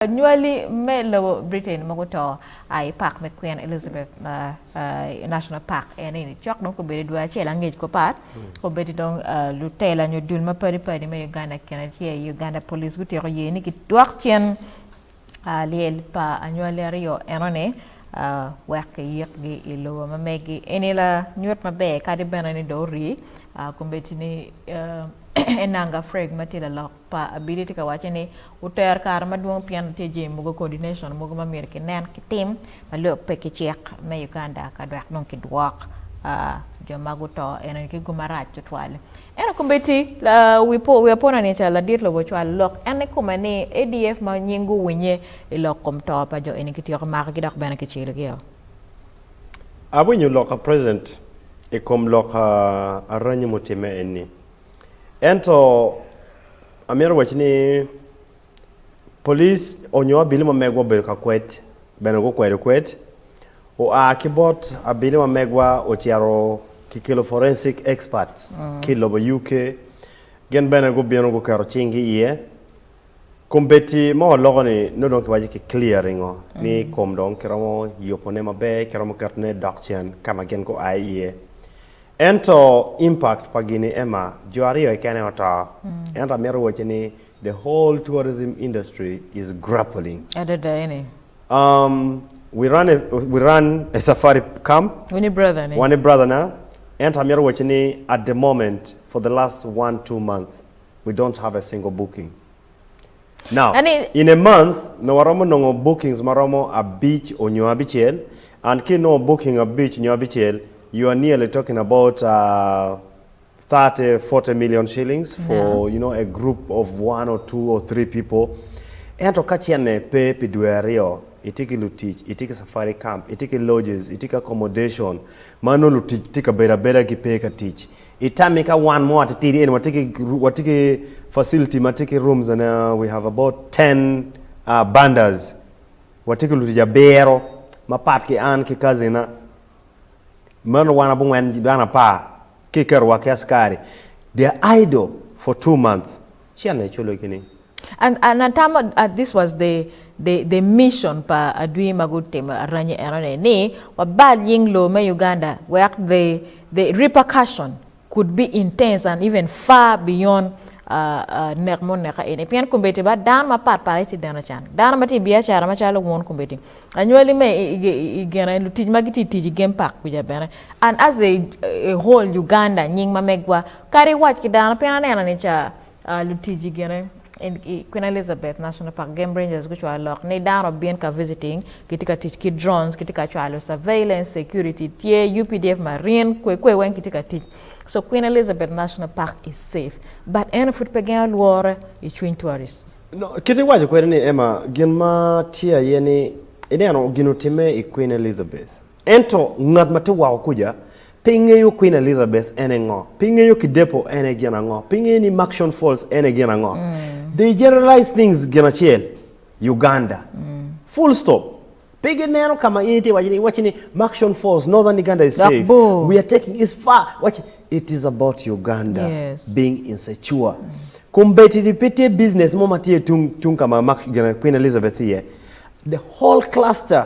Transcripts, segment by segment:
Anywali me lobo Britain ma guto a i Pak me Queen Elizabeth National Park eni ni cok dong kobedo dwe acel angec kupat kobedo dong lutela nyo dul mapadi padi me Uganda kine tye i Uganda Police gutyeko ye ni gidwok cen lyel pa anywali aryo eno ni wek kiyik gi i lobo ma megi eni la nyut maber kadi bene ni dong ori kombeddi ni Enanga Freg matye lalok Pa abili tye ka waco ni wutero kare madwong pien watye jami mogo coordination mogo ma myero kinen ki tim ma lok pe ki cik me Uganda ka dwek dong ki dwok jo ma guto eno ni ki gum marac tutwal. Eno komiti wi apona ni ca ladit lobo ocwalo lok en ni kome ni ADF ma nying gu winye i lok kom to pa jo eni ki tyeko mako gi dok bene ki celo gi o. Awinyo lok a President i kom lok aranyi mutimme eni. Ento amito waci ni police onyo abili ma megwa obedo ka kwed bene gukwedo kwed, oa ki bot abili ma megwa ocito kikelo forensic experts ki lobo UK gin bene gubino guketo cinggi iye Kombeddi ma waloko ni nongo dong kiwaco ki clear ringo ni kom dong kiromo yubo ne maber, kiromo keto ne dok cen kama gin gua iye. Ento impact pa gini Emma, jo aryo keken aye oto. Ento amito wacci ni the whole tourism industry is grappling. Adada eni. Um, we run a, we run a safari camp. Wani brother ni. Wani brother na. Ento amito wacci ni at the moment for the last one two month we don't have a single booking. Now, Ani- in a month, nongo waromo nongo bookings ma romo abic onyo abicel, and ki inongo booking abic nyo abicel, you are nearly talking about uh, thirty, forty million shillings for, Naam. you know, a group of one or two or three people. Ento ka cene pe pi dwe aryo, itye ki lutic, itye ki safari camp, itye ki lodges, itye ki accommodation, ma nongo lutic tye ka bedo abeda, gipe ka tic. I tammi ka wan mo atitidi eni watye ki watye ki facility ma tye ki rooms and uh, we have about 10 uh, bandas. Watye ki lutic abiro mapat ki an ki kazina. Meno wan abungwen dano apar ki kerowa ki askari. They are idle for two months. Ci an aculo gi ni. And an atamo uh, this was the the the mission pa adwi ma gutimo aranyi eno ni, ni wabal nying loo me Uganda wek the the repercussion could be intense and even far beyond uh uh nek ma oneka eni. Pien kombeddi ba dano mapat pat aye tye dano can, dano ma tye i biacara macalo wun kombeddi, anywali me i i i i gene, lutic ma gitye i tic i game park kuca bene, and as a a whole Uganda nying ma megwa Kadi iwac ki dano, pien aneno ni ca lutici gine i Queen Elizabeth National Park, Game Rangers gucwalo lok ni dano obin ka visiting, gitye ka tic ki drones, gitye ka cwalo surveillance, security tye, updf, marine, kwe kwe weng gitye ka tic. So Queen Elizabeth National Park is safe but en pud pe gengo lworo i cwiny tourists. Kit iwaco kwede ni Emma, gin ma tye aye ni ineno gin otimme i Queen Elizabeth. Ento ngat ma tye woko kuca pe ngeyo Kwin Elizabeth en aye ngo, pe ngeyo Kidepo en aye gin ango, pe ngeyo ni Murchison Falls en aye gin ango. They generalize things gin acel, Uganda. Full stop. Pe gineno ka ma in itye ka wac ni, iwacci ni Murchison Falls, Northern Uganda is Dok safe. bor. We are taking is far. Watch, it is about Uganda Yes. being insecure. Kombeddi ni pe tye business mo ma tye tung tung ka ma Murch- gin Queen Elizabeth iye. The whole cluster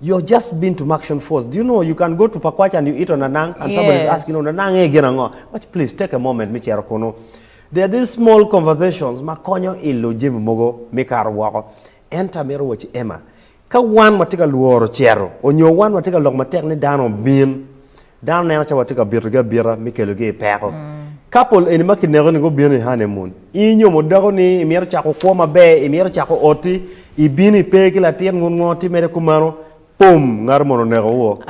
You're just been to Maction Falls do you know you can go to Pakwach and you eat on Anang and somebody is asking Yes. on Anang e gin ango Watch please take a moment me cito kunu There are these small conversations ma konyo ilo jami mogo me kato woko Ento amito watch Emma ka wan watye ka lworo cito onyo wan watye ka lok matek ni dano obin Dano neno calo watye ka bitogi abita me kelogi i peko. Kapul eni ma kineko-ni gubino i hanemun, in nyomo dako ni imito cako kwo maber, imito cako oti, ibino ipe ki latin ngut ngo timede kumeno, pum! Ngati moni onekowu.